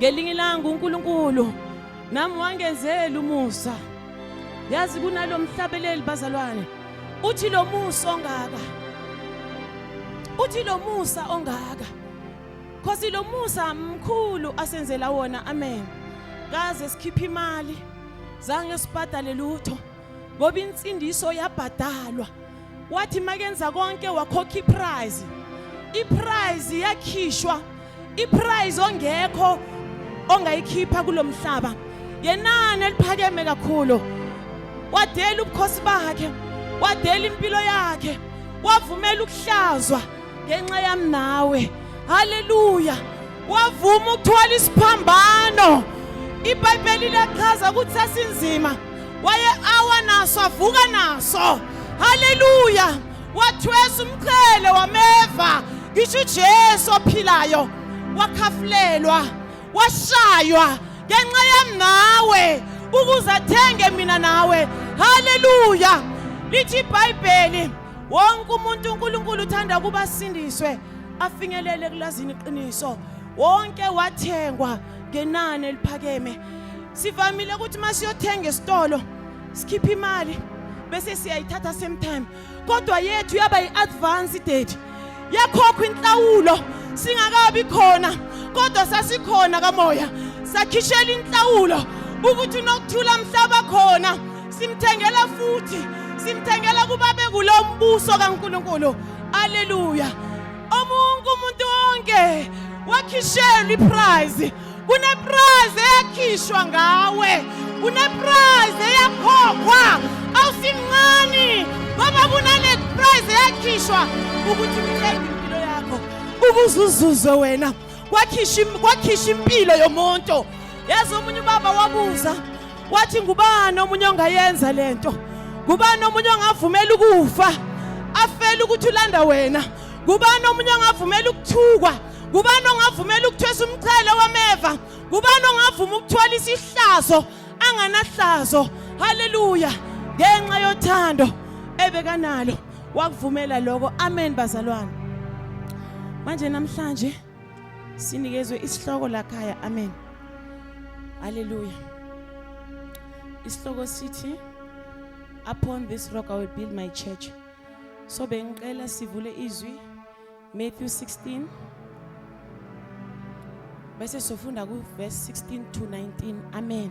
Ngelinye ilanga uNkulunkulu nami wangenzela umusa. Yazi kunalomhlabeleli bazalwane. Uthi lo musa ongaka. Uthi lo musa ongaka. Khosi lo musa mkhulu asenzela wona. Amen. Kaze sikhipha imali. Zange sibhadale lutho. Ngoba insindiso yabhadalwa. wathi makenza konke wakhokha iprize iprize yakhishwa iprize ongekho ongayikhipha kulomhlaba yenani eliphakeme kakhulu wadela ubukhosi bakhe wadela impilo yakhe wavumela ukuhlazwa ngenxa yami nawe haleluya wavuma ukuthwala isiphambano ibhayibheli liyachaza ukuthi sasinzima waye awa naso avuka naso haleluya wathwesa umqhele wameva ngisho uJesu ophilayo wakhafulelwa washaywa ngenxa yami nawe ukuze athenge mina nawe haleluya lithi ibhayibheli wonke umuntu uNkulunkulu uthanda ukuba asindiswe afinyelele ekulazini iqiniso wonke wathengwa ngenani eliphakeme sivamile ukuthi uma siyothenga esitolo sikhiphe imali bese siyayithatha same time kodwa yethu yaba yi-advance date yakhokhwa inhlawulo singakabi khona kodwa sasikhona kamoya sakhishela inhlawulo ukuthi unokuthula mhlaba khona Simthengela futhi, simthengela kuba bekulo mbuso kaNkuluNkulu. Haleluya. Omunye umuntu wonke wakhishelwa iprize. Kuneprize eyakhishwa ngawe. Kuneprize eyakhokhwa. Awusimncane ngoba kunale prize eyakhishwa ukuthi mthenge impilo yakho. Ukuze uzuze wena. kwakhisha impilo yomuntu yazi omunye ubaba wabuza wathi ngubani omunye ongayenza lento ngubani omunye ongavumela ukufa afele ukuthi ulanda wena ngubani omunye ongavumela ukuthukwa ngubani ongavumela ukuthwesa umchele wameva ngubani ongavuma ukuthola isihlazo anganahlazo haleluya ngenxa yothando ebekanalo wakuvumela lokho amen bazalwane manje namhlanje sinikezwe isihloko lakhaya amen haleluya isihloko sithi upon this rock i will build my church so bengicela sivule izwi Matthew 16 bese sofunda ku verse 16 to 19 amen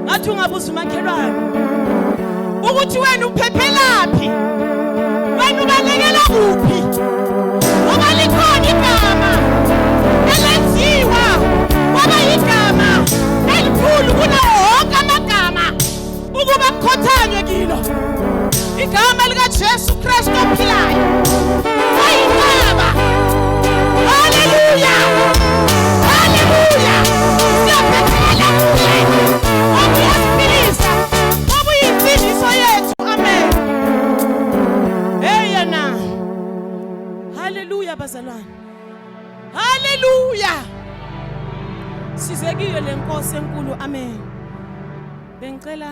ngathi ungabuza umakhelwane ukuthi wena uphephelaphi wena ubalekela kuphi ngoba likhona igama elenziwa kwaba yigama elikhulu kunawo wonke amagama ukuba kukhothanywe kilo Igama lika Jesu Kristu ophilayo. Ayinqaba. Hallelujah. Hallelujah. Siyaphephela kuye. Okuyaphilisa. Okuyimfihliso yethu. Amen. Hey yena. Hallelujah bazalwane. Hallelujah. Sizekile lenkosi enkulu. Amen. Bengicela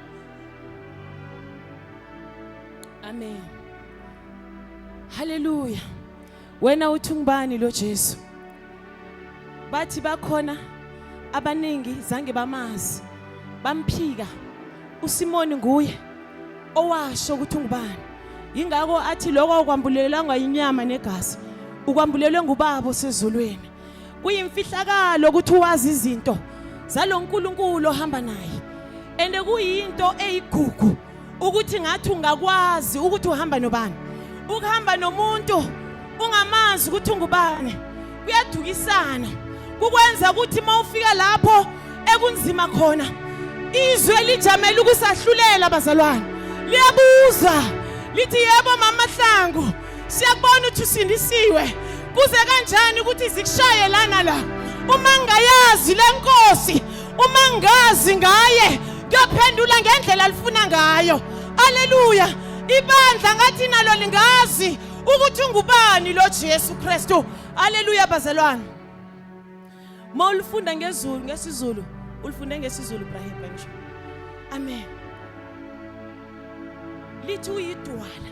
Amen. Hallelujah. Wena uthi ngubani lo Jesu? Bathi bakhona abaningi zange bamazi. Bamphika. USimoni nguye owasho ukuthi ngubani. Yingakho athi lokho kwambulelangwa inyama negazi. Ukwambulelwe ngubaba osezulwini. kuyimfihlakalo ukuthi wazi izinto zaloNkulunkulu ohamba naye and kuyinto eyigugu ukuthi ngathi ungakwazi ukuthi uhamba nobani ukuhamba nomuntu ungamazi ukuthi ungubani kuyadukisana kukwenza ukuthi uma ufika lapho ekunzima khona izwe lijamele ukusahlulela bazalwane liyabuza lithi yebo mama hlangu siyakubona ukuthi usindisiwe kuze kanjani ukuthi zikushaye lana la uma ngayazi lenkosi uma ngazi ngaye kuyophendula ngendlela alifuna ngayo aleluya ibandla ngathi nalo lingazi ukuthi ungubani lo Jesu Kristu aleluya bazalwane mawulifunda ngezulu ngesizulu ulifunde ngesizulu Ibrahim kanjalo amen lithi uyidwala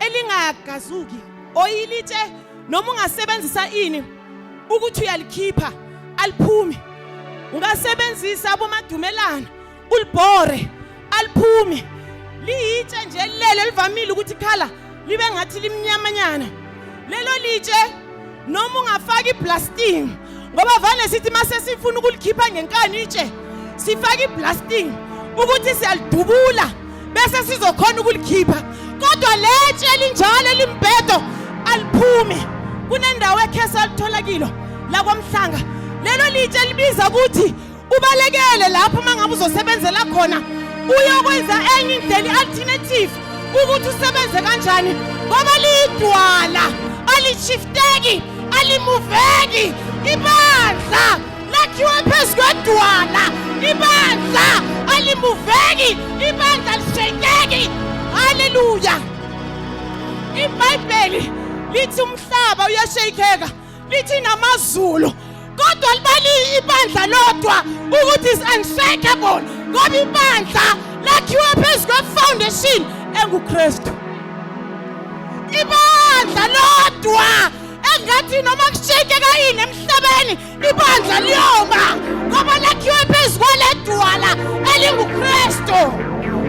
elingagazuki oyilitshe noma ungasebenzisa ini ukuthi uyalikhipha aliphumi ungasebenzisa abomadumelana ulibhore aliphumi liyitshe nje lelo livamile ukuthi khala libe ngathi limnyamanyana lelo litshe noma ungafaka iblasting ngoba vane sithi uma sesifuna ukulikhipha ngenkani itshe sifake iblasting ukuthi siyalidubula bese sizokhona ukulikhipha kodwa letshe elinjalo elimbhedo aliphumi kunendawo ekhesa alithola kilo lakwamhlanga lelo litshe libiza ukuthi ubalekele lapho uma ngabe uzosebenzela khona uyokwenza enye indlela i-alternative ukuthi usebenze kanjani ngoba liyidwala alishifteki alimuveki ibandla lakhiwe phezu kwedwala ibandla alimuveki ibandla lishekeki haleluya ibhayibheli lithi umhlaba uyasheyikeka lithi namazulu kodwa libaliye ibandla lodwa ukuthi is unshakable ngoba ibandla lakhiwe phezu kwefoundation engukristu ibandla lodwa engathi noma kushekeka yini emhlabeni ibandla liyoma ngoba lakhiwe phezu kwaledwala elingukristu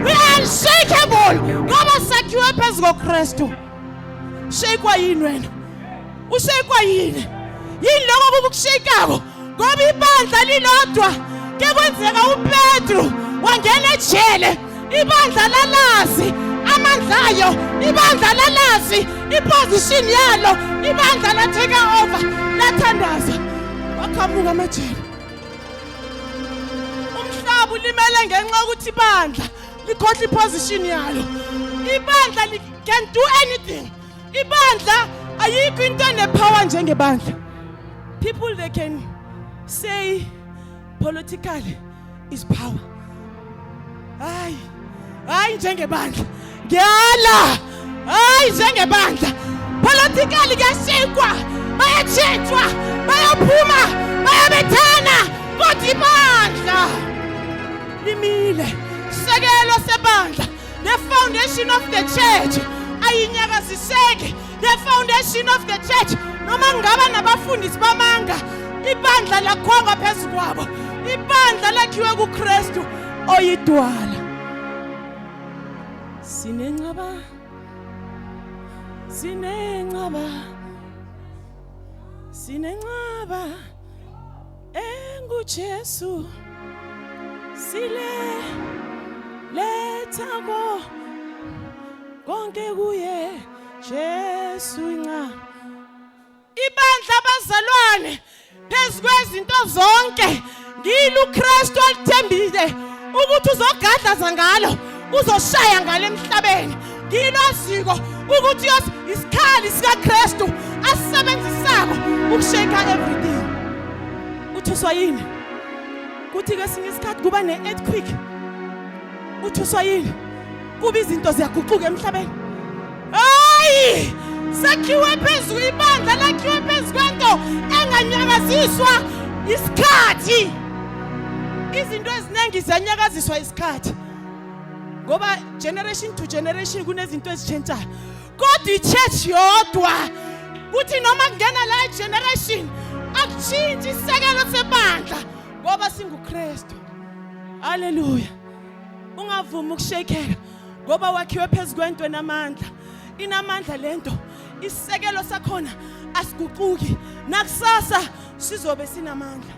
we are unshakable ngoba sakhiwe phezu kokristu shekwa yini wena ushekwa yini yini lokho kukushekako ngoba ibandla lilodwa ke kwenzeka upetru wangena ejele ibandla lalazi amandla ayo ibandla lalazi iposition yalo ibandla latheka over lathandaza waqhamuka amajele umhlaba ulimele ngenxa yokuthi ibandla likhohle iposition yalo ibandla can do anything ibandla ayikho into enepower njengebandla people they can say political is power hayi hayi njengebandla ngiyala hayi njengebandla political kuyashikwa bayatshintshwa bayaphuma bayabethana kodwa ibandla limile sekelo sebandla The foundation of the church ayinyakaziseki. The foundation of the church noma ngaba nabafundisi bamanga ibandla lakhonga phezu kwabo. Ibandla lakhiwe kuKristu oyidwala. Sinenqaba Sinenqaba Sinenqaba Jesu sile letha ko konke kuye Jesu nca ibandla abazalwane phezukwezinto zonke ngilo uKristu alithembile ukuthi uzogadlaza ngalo uzoshaya ngale emhlabeni nginoziko ukuthi yos isikhali sikaKristu asisebenzisako ukusheka everything uthuswa yini kuthi kesinye isikhathi kuba ne-earthquake uthuswa yini kuba izinto ziyaguquka emhlabeni hayi sakhiwe phezu ibandla lakhiwe phezu kwento enganyakaziswa isikhathi izinto eziningi ziyanyakaziswa isikhathi ngoba generation to generation kunezinto ezitshentshayo kodwa ichurch yodwa kuthi noma kungena la generation akushintshi isekelo sebandla ngoba singuKristu haleluya ungavumi ukushekeka ngoba wakhiwe phezu kwento enamandla inamandla lento isekelo sakhona asiguquki nakusasa sizobe sinamandla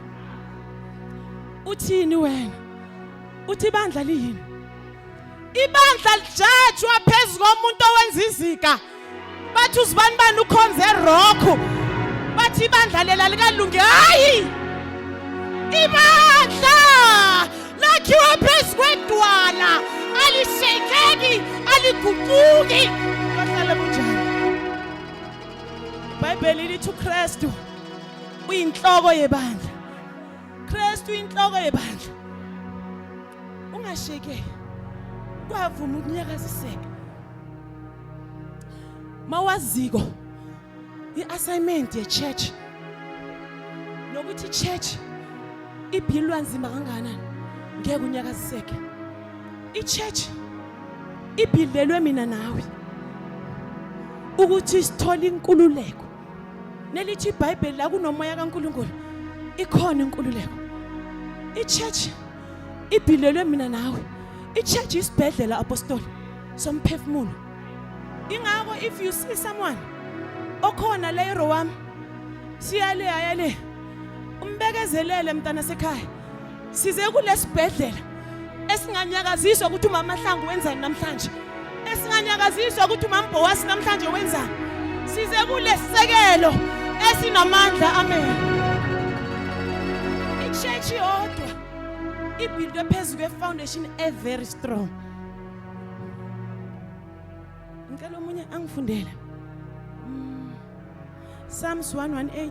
uthini wena uthi ibandla liyini ibandla lijajwa phezu komuntu owenza izika bathi uzibani bani ukhonze rock bathi ibandla lela likalungi hayi ibandla lakhiwa phezu kwedwala alishekeki aliguquki bahlale kunjani ibhayibheli lithi ukristu uyinhloko yebandla Kristu inhloko yebandla ungasheke kwavuma ukunyakaziseka mawaziko i-assignment ye-church nokuthi i-church ibhilwa nzima kangakanani ngeke unyakaziseke i-church ibhilelwe mina nawe ukuthi sithole inkululeko nelithi iBhayibheli la kunomoya kaNkuluNkulu ikhona inkululeko ichurch ibhilelwe mina nawe ichurch isibhedlela apostoli somphefumulo ingakho if you see someone okhona la eRowam siyale ayale umbekezelele mntana sekhaya size kulesibhedlela esinganyakaziswa ukuthi umama Hlangu wenzani namhlanje esinganyakaziswa ukuthi umama Bhowasi namhlanje wenzani size kulesekelo esinamandla amen ichurch yodwa ibhildwe phezu kwefoundation e very strong ngicela omunye angifundele mm. Psalms 118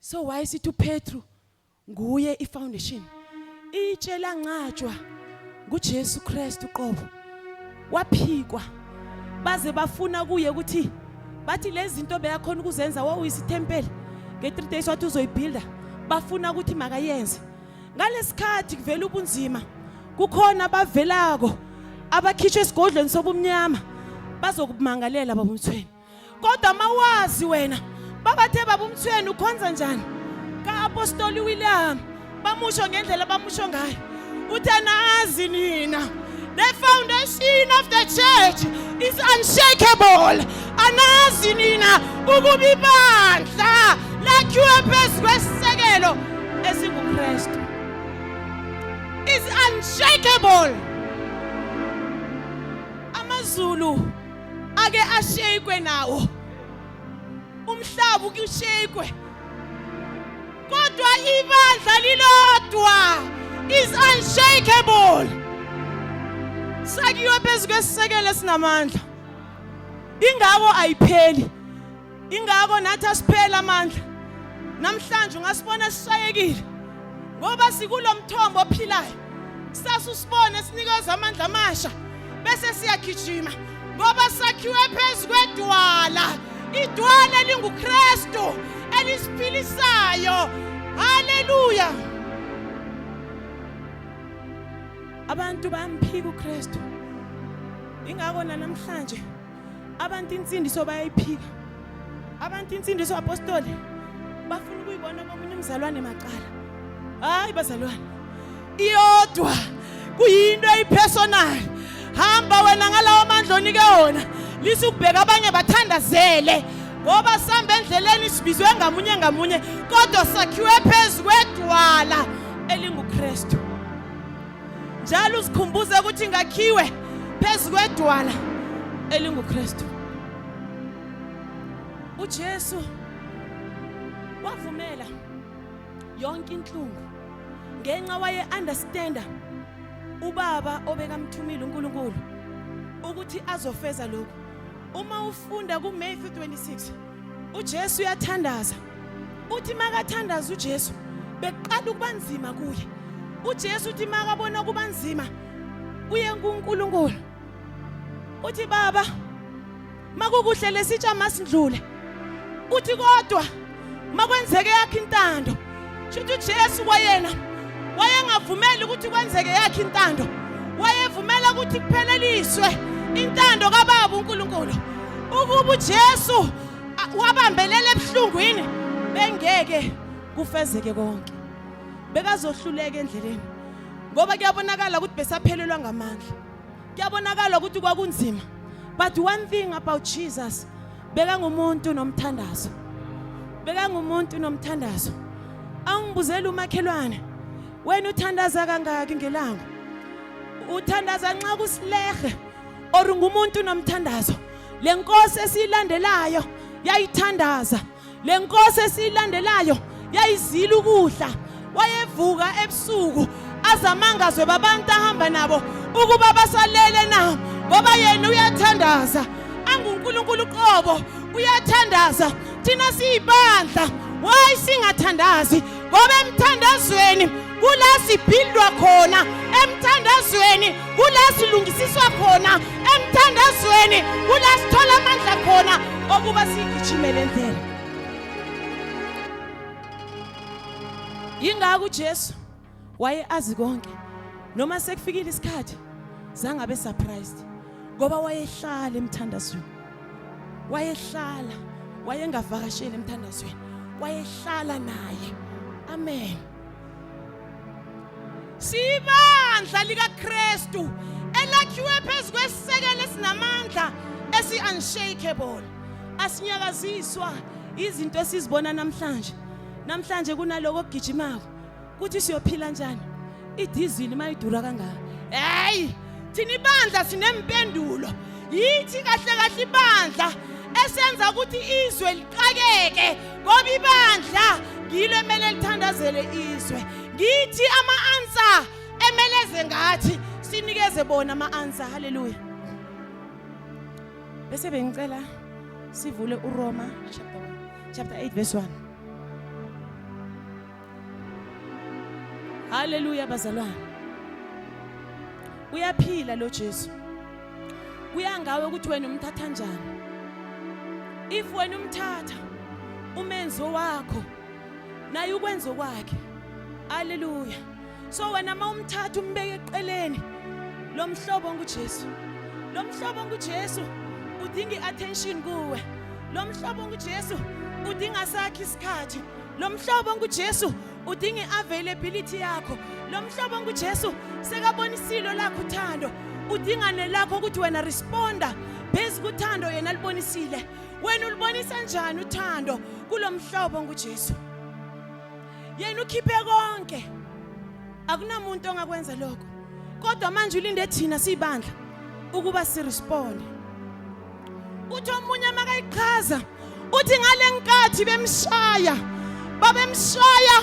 so why sithi uPetru nguye ifoundation itshe lanqatshwa nguJesu Kristu qobo waphikwa baze bafuna kuye ukuthi bathi lezi zinto beyakhona ukuzenza wawuyisithempeli nge-3 days wathi uzoyibuilda bafuna ukuthi makayenze ngalesikhathi kuvela ubunzima kukhona abavelako abakhishwe esigodlweni sobumnyama bazokumangalela babumthweni kodwa mawazi wena babathe baba umthweni ukhonza njani ka-apostoli william bamusho ngendlela bamusho ngayo uthi anazi nina the foundation of the church is unshakable anazi nina ukuba ibandla lakhiwe phezu kwesisekelo esingukristu is unshakable amazulu ake ashekwe nawo umhlaba ukushekwe kodwa ibandla lilodwa is unshakable sakiwe phezu kwesisekelo esinamandla ingako ayipheli ingako nathi asiphela amandla namhlanje ungasibona sishayekile ngoba sikulomthombo ophilayo kusasa usibone sinikeza amandla amasha bese siyagijima ngoba sakhiwe phezu kwedwala idwala elinguKristu elisiphilisayo haleluya abantu bamphika uKristu ingako namhlanje abantu insindiso bayayiphika abantu insindiso apostoli bafuna ukuyibona komunye umzalwane macala hayi bazalwane iyodwa kuyinto eyipersonal hamba wena ngalawo mandla onike wona lisa ukubheka abanye bathandazele ngoba sihamba endleleni sibizwe ngamunye ngamunye kodwa sakhiwe phezu kwedwala elingukristu njalo uzikhumbuze ukuthi ngakhiwe phezu kwedwala elinguKristu uJesu wavumela yonke inhlungu ngenxa waye understanda ubaba obekamthumile uNkulunkulu ukuthi azofeza lokho uma ufunda kuMatthew 26 uJesu uyathandaza uthi makathandaza uJesu bekuqala ukuba nzima kuye uJesu uthi makabona kuba nzima uye kuNkulunkulu uthi baba makukuhle lesitsha masindlule uthi kodwa makwenzeke yakhe intando Shuthi uJesu kwayena wayengavumeli ukuthi kwenzeke yakhe intando. Wayevumela ukuthi kupheleliswe intando kaBaba uNkulunkulu. Ukuba uJesu wabambelela ebuhlungwini bengeke kufezeke konke. Bekazohluleka endleleni. Ngoba kuyabonakala ukuthi besaphelelwa ngamandla. Kuyabonakala ukuthi kwakunzima. But one thing about Jesus, bekangumuntu nomthandazo. Bekangumuntu nomthandazo. Awungibuzela umakhelwane. Wena uthandaza kangaki ngelanga? Uthandaza nxa kusilehe or ngumuntu nomthandazo. Lenkosi esilandelayo yayithandaza Le nkosi esiyilandelayo yayizila ukudla wayevuka ebusuku azamangazwe babantu ahamba nabo ukuba basalele na ngoba yena uyathandaza anguNkulunkulu qobo uyathandaza thina siyibandla why singathandazi ngoba emthandazweni kula siphindwa khona emthandazweni kula silungisiswa khona emthandazweni kula sithola amandla khona okuba sigijimele ndlela yingakho uJesu waye azi konke noma sekufikile isikhathi zangabe surprised ngoba wayehlala emthandazweni wayehlala wayengavakasheli emthandazweni wayehlala naye amen sibandla likaKristu elakhiwe phezu kwesisekelo esinamandla esi unshakable asinyakaziswa izinto esizibona namhlanje namhlanje kunaloko ogijimako kuthi siyophila njani idizili mayidura kangaka hey thina ibandla sinempendulo yithi kahle kahle ibandla esenza ukuthi izwe liqakeke ngoba ibandla ngilo emele lithandazele izwe ngithi ama-answer emeleze ngathi sinikeze bona ama-answer haleluya bese bengicela sivule uroma chapter 8 verse 1 Haleluya bazalwane. Uyaphila lo Jesu. Kuya ngawe ukuthi wena umthatha kanjani. If wena umthatha umenzo wakho naye ukwenza kwakhe. Haleluya. So wena mawumthatha umbeke eqeleni lomhlobo nguJesu. Lomhlobo nguJesu udinga iattention kuwe. Lomhlobo nguJesu udinga sakhe isikhathi. Lo mhlobo nguJesu udinga i-availability yakho. Lo mhlobo nguJesu sekabonisilo lakho uthando. Udinga nelakho ukuthi wena responda phezu kuthando yena libonisile. Wena ulibonisa kanjani uthando kulo mhlobo nguJesu? Yena ukhiphe konke. Akunamuntu ongakwenza lokho. Kodwa manje ulinde thina sibandla ukuba siresponde. Uthi omunye makayichaza uthi ngalenkathi bemshaya babemshaya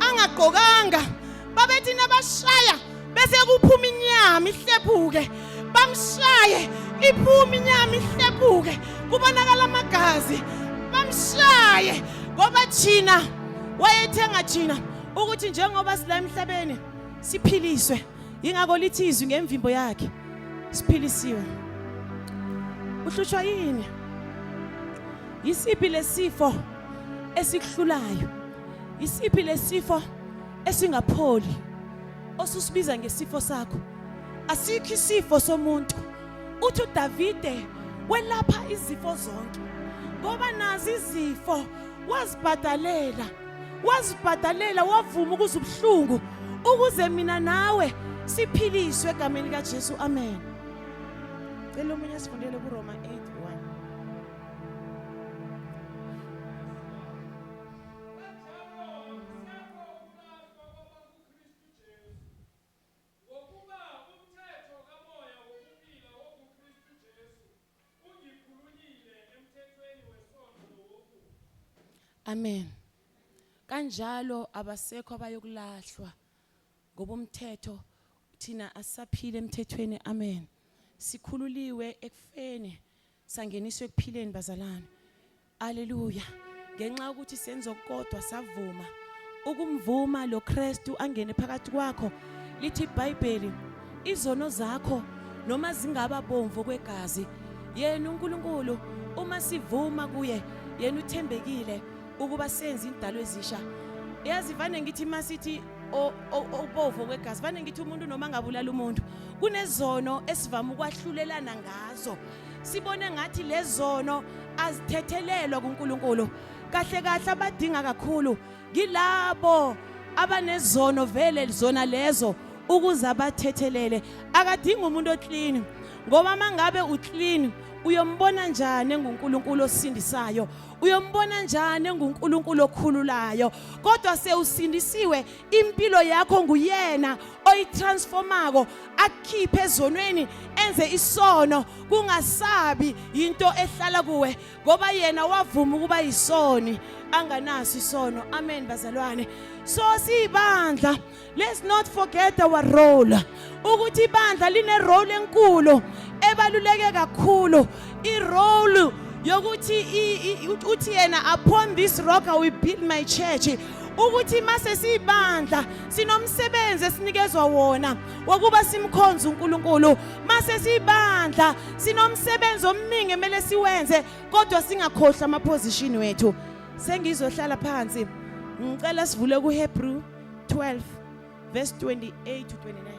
angagqokanga babethi nabashaya bese kuphuma inyama ihlephuke bamshaye iphuma inyama ihlephuke kubonakala amagazi bamshaye ngoba thina wayethenga thina ukuthi njengoba sila emhlabeni siphiliswe yingakho lithi izwi ngemvimbo yakhe siphilisiwe uhlutshwa yini yisiphi lesifo esikuhlulayo yisiphi lesifo esingapholi osusibiza ngesifo sakho asikho isifo somuntu uthi uDavide welapha izifo zonke ngoba nazi izifo wazibhadalela wazibhadalela wavuma ukuze ubuhlungu ukuze mina nawe siphiliswe egameni likaJesu amen cela omunye sifundele kuRoma 8 Amen. Kanjalo abasekho abayokulahlwa ngoba umthetho thina asaphile emthethweni. Amen. Sikhululiwe ekufeni sangeniswa ekuphileni bazalwane. Haleluya. Ngenxa yokuthi senzo kodwa savuma ukumvuma lo Kristu angene phakathi kwakho lithi iBhayibheli izono zakho noma zingaba bomvu kwegazi yena uNkulunkulu uma sivuma kuye yena uthembekile ukuba senze indalo ezisha yazi vane ngithi masithi obovu kwegazi vane ngithi umuntu noma ngabulala umuntu kunezono esivama ukwahlulelana ngazo sibone ngathi lezono azithethelelwa kuNkulunkulu kahle kahle abadinga kakhulu ngilabo abanezono vele zona lezo ukuze abathethelele akadingi umuntu oclean ngoba mangabe uclean uyombona njani enguNkulunkulu osindisayo uyombona njani enguNkulunkulu okhululayo kodwa sewusindisiwe impilo yakho nguyena oyitransformako akukhiphe ezonweni enze isono kungasabi yinto ehlala kuwe ngoba yena wavuma ukuba yisoni anganaso isono amen bazalwane so siyibandla let's not forget our role ukuthi ibandla line role enkulu ebaluleke kakhulu i role yokuthi uthi yena upon this rock i will build my church ukuthi mase siyibandla sinomsebenzi esinikezwa wona wokuba simkhonze uNkulunkulu mase sibandla sinomsebenzi omningi emele siwenze kodwa singakhohlwa ama position wethu sengizohlala phansi ngicela sivule ku Hebrew 12 verse 28 to 29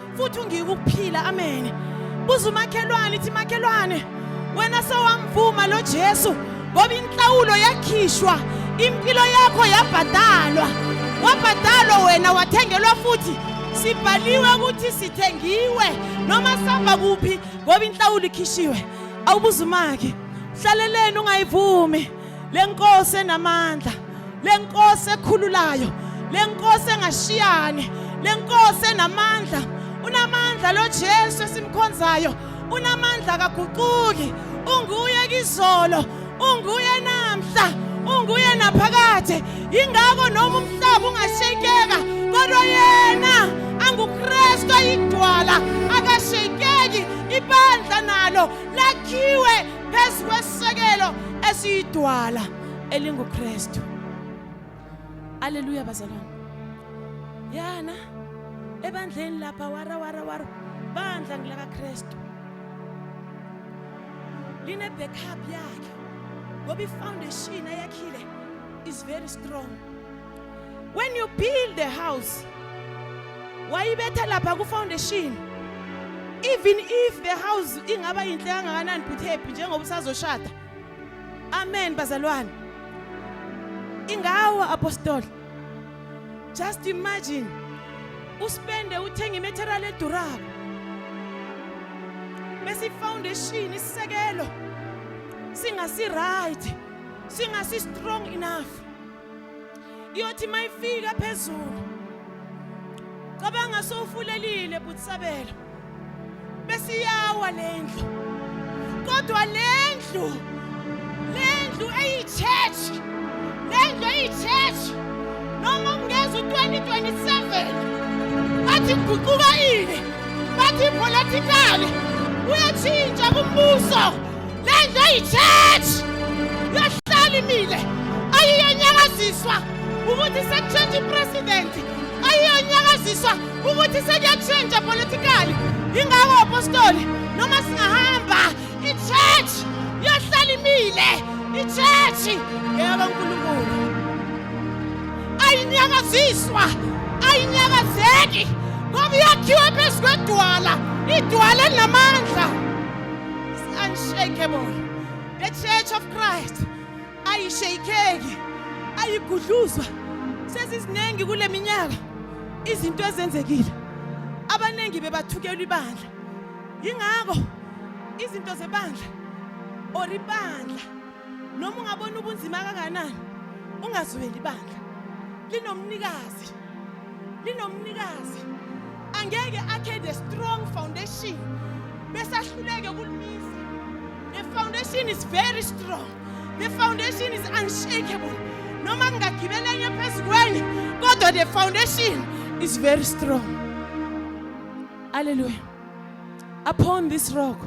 futhi ungike ukuphila amen buza umakhelwane ithi makhelwane wena sewamvuma lo Jesu ngoba inhlawulo yakhishwa impilo yakho yabhadalwa wabhadalwa wena wathengelwa futhi sibhaliwe ukuthi sithengiwe noma sihamba kuphi ngoba inhlawulo ikhishiwe awubuza umake hlaleleni ungayivumi lenkosi enamandla lenkosi ekhululayo lenkosi engashiyani lenkosi enamandla unamandla lo Jesu esimkhonzayo unamandla kaguquki unguye kizolo unguye namhla unguye naphakade ingako noma umhlaba ungashekeka kodwa yena anguKristu ayidwala akashekeki ibandla nalo lakhiwe phezu kwesisekelo esiyidwala elinguKristu Haleluya bazalwane yana ebandleni lapha wara wara wara bandla ngilaka Kristu line backup yakhe ngoba ifoundation ayakhile is very strong when you build the house wayibetha lapha ku foundation even if the house ingaba yinhle kangakanani but happy njengoba usazoshada amen bazalwane ingawa apostoli just imagine uspende uthenga imaterial edurako bese ifoundation isisekelo singasi right singasi strong enough iyothi mayifika phezulu cabanga sowufulelile butisabelo bese iyawa lendlu kodwa lendlu lendlu eyichurch lendlu eyichurch noma ungeza u-2027 bathi kuguquka ini bathi ipolitikali uyatshintsha kumbuso Le ndlu eyi-church yahlala imile ayiyonyakaziswa ukuthi sekushintsha ipresident ayiyonyakaziswa ukuthi sekuyakushintsha politikali yingako apostoli noma singahamba i-church yahlala imile i-church ngeyakankulunkulu ayinyakaziswa ayinyakazeki ngoba yakhiwe phezu kwedwala idwala elinamandla unshakable the church of christ ayishayikeki ayigudluzwa seziziningi kule minyaka izinto ezenzekile abaningi bebathukelwa ibandla yingakho izinto zebandla or ibandla noma ungabona ubunzima kanganani ungazweli bandla linomnikazi linomnikazi angeke akhe the strong foundation bese ahluleke ukulumisa the foundation is very strong the foundation is unshakable noma kungagibela enye phezu kwenye kodwa the foundation is very strong haleluya Upon this rock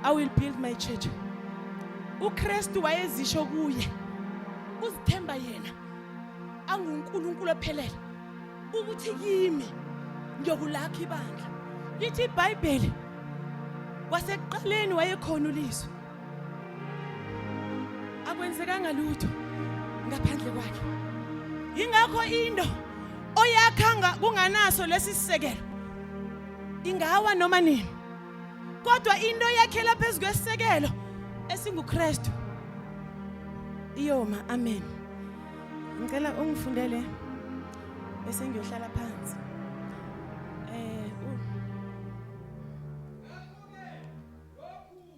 I will build my church. UKristu wayezisho kuye uzithemba yena anguNkulunkulu ophelele ukuthi kimi ngiyokulakha ibandla. Lithi iBhayibheli wasekuqaleni wayekhona ulizwe akwenzekanga lutho ngaphandle kwakhe ingakho into oyakhanga kunganaso lesi sisekelo ingawa noma nini kodwa into yakhela phezu kwesisekelo esinguKristu iyoma amen ngicela ungifundele bese ngiyohlala phansi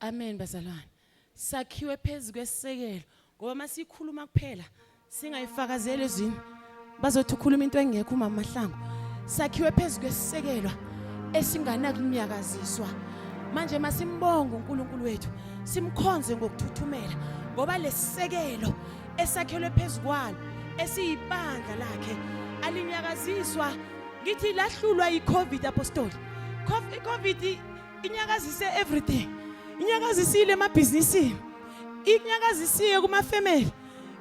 Amen bazalwane. Sakhiwe phezulu kwesekelo ngoba masikhuluma kuphela singayifakazeli ezwini bazothi ukhuluma into engekho umama Mahlangu. Sakhiwe phezulu kwesekelwa esinganakunyakaziswa. Manje masimbonga uNkulunkulu wethu, simkhonze ngokuthuthumela ngoba lesekelo esakhelwe phezulu kwalo esiyibandla lakhe alinyakaziswa ngithi lahlulwa yiCovid apostoli. Covid inyakazise everything inyakazisile emabhizinisini inyakazisiye kumafamily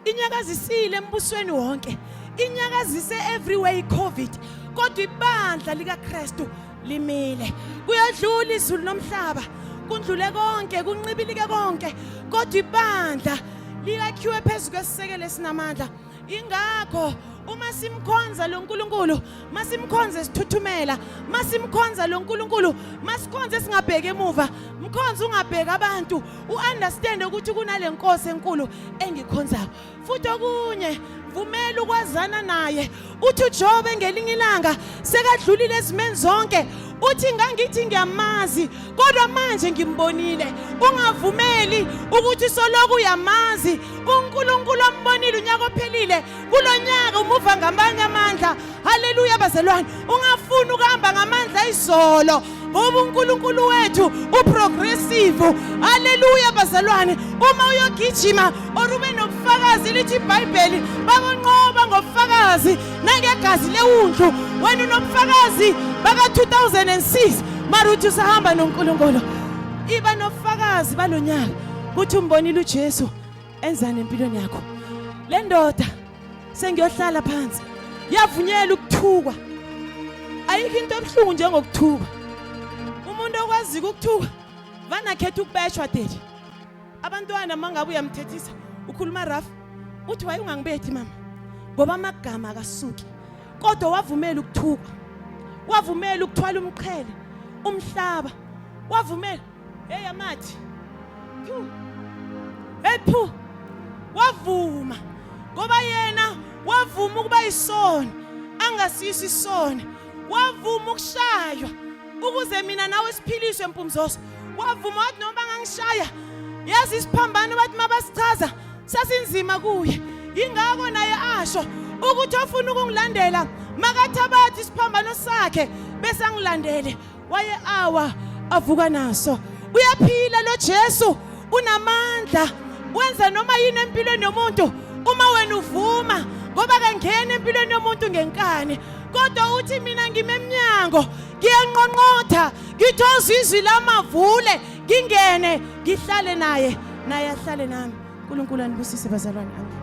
inyakazisile embusweni wonke inyakazise everywhere icovid kodwa ibandla likaKristu limile kuyadlula izulu nomhlaba kundlule konke kunqibilike konke kodwa ibandla liyakhiwe phezu kwesisekelo esinamandla ingakho uma simkhonza lo nkulunkulu masimkhonze sithuthumela masimkhonza lo nkulunkulu masikhonze singabheki emuva mkhonze ungabheki abantu u-understande ukuthi kunale nkosi enkulu engikhonzayo futhi okunye vumela ukwazana naye uthi ujobe ngelinye ilanga sekadlulile ezimeni zonke uthi ngangithi ngiyamazi kodwa manje ngimbonile ungavumeli ukuthi soloku uyamazi uNkulunkulu ambonile unyaka ophelile kulonyaka umuva ngamanye amandla haleluya bazalwane ungafuni ukuhamba ngamandla izolo ngoba uNkulunkulu wethu uprogressive haleluya bazalwane uma uyogijima or ube nobufakazi lithi iBhayibheli bakonqoba ngobufakazi nangegazi lewundlu wena unobufakazi baka-2006 mara uthi usahamba nonkulunkulu iba nobufakazi balo nyaka ukuthi umbonile ujesu enzani empilweni yakho le ndoda sengiyohlala phansi yavunyela ukuthukwa ayikho into ebuhlungu njengokuthukwa umuntu okwaziyo ukuthukwa vanakhetha ukubeshwa deli abantwana mangabe uyamthethisa ukhuluma rough uthi waye ungangibethi mama ngoba amagama akasuki kodwa wavumela ukuthuka wavumela ukuthwala umqhele umhlaba wavumela hey amathi hey phu wavuma ngoba yena wavuma ukuba isona angasisi isona wavuma ukushaywa ukuze mina nawe siphiliswe mpumzoso wavuma wathi noma bangangishaya yazi isiphambano bathi mabasichaza sasinzima kuye ingako naye asho ukuthi ofuna ukungilandela makathabathi isiphambano sakhe bese angilandele waye awa avuka naso uyaphila lo Jesu unamandla wenza noma yini empilweni yomuntu uma wena uvuma ngoba kangena empilweni yomuntu ngenkani kodwa uthi mina ngimemnyango ngiyanqonqotha ngithoza izwi lamavule ngingene ngihlale naye naye ahlale nami unkulunkulu anibusise bazalwane amen